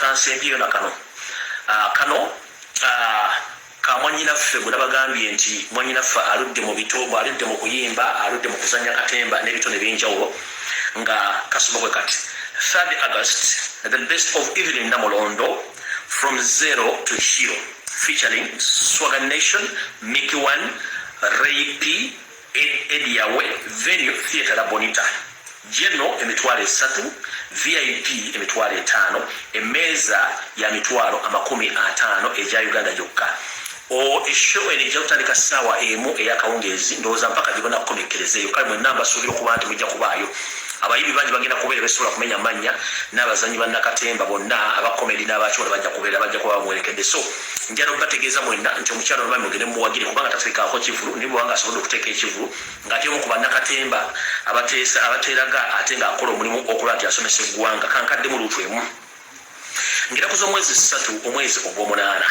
kansembyeyo na kano ah, kano ah, ka mwanyinaffe gwe nabagambye nti mwanyinaffe aludde mu bitogo aludde mu kuyimba aludde mu kuzanya katemba n'ebitone ebyenjawulo nga kasobokwe kati 3 august the best of evelyn namulondo from zero to hero featuring swagan nation mickey one ray p ediawe venue theatre la bonita geno emitwalo esatu vip emitwalo etaano emeeza ya mitwalo amakumi ataano egya uganda gyokka eshow eno ejja kutandika ssaawa emu eyakawungeezi ndowooza mpaka gibona kukomekkereza eyo kale mwenna mbasuubira okuba nti mujja kubaayo abayimbi bangi bagenda kubeera besobola kumenya mannya n'abazanyi bannakatemba bonna abakomedi n'abakiwona bajja kubeera bajja kuba bamuwerekedde so njala okubategeeza mwenna nti omukyala olubami mugende mumuwagire kubanga tateekaako kivulu naye bwewanga asobodde okuteeka ekivulu ng'ate omu ku bannakatemba abateesa abateeraga ate ng'akola omulimu okulaba nti asomesa eggwanga kankadde mu luutu emu ng'era ku z'omwezi ssatu omwezi ogw'omunaana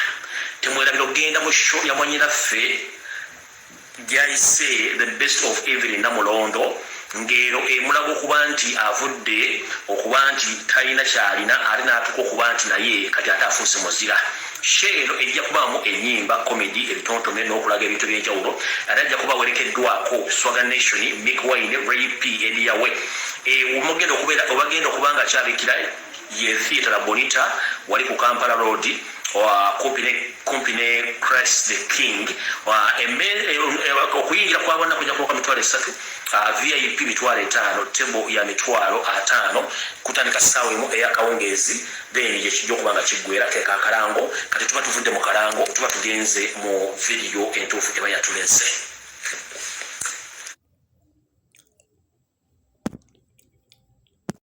temwerabira okugenda mu sho yamwanyinaffe gyayise the best of evelyn namulondo ng'ero emulaga okuba nti avudde okuba nti talina kyalina ate n'atuuka okuba nti naye kati ate afuuse muzira sho eno ejja kubaamu enyimba comedy ebitontome n'okulaga ebintu ebyenjawulo ate ajja kuba awerekeddwako swaga nation mick wine ray p ediyawe omugenda eh, okubeera obagenda okuba nga kyabikira ye theatre bonita wali ku kampala road kumpi ne christ the king okuyingira kwabana kuja kuoka mitwalo esatu vip mitwalo etaano tebo ya mitwalo ataano kutandika saawa emu eyakawungeezi then yekijja okuba nga kiggwera keka akalango kati tuba tuvudde mu kalango tuba tugenze mu vidiyo entuufu eba yatulese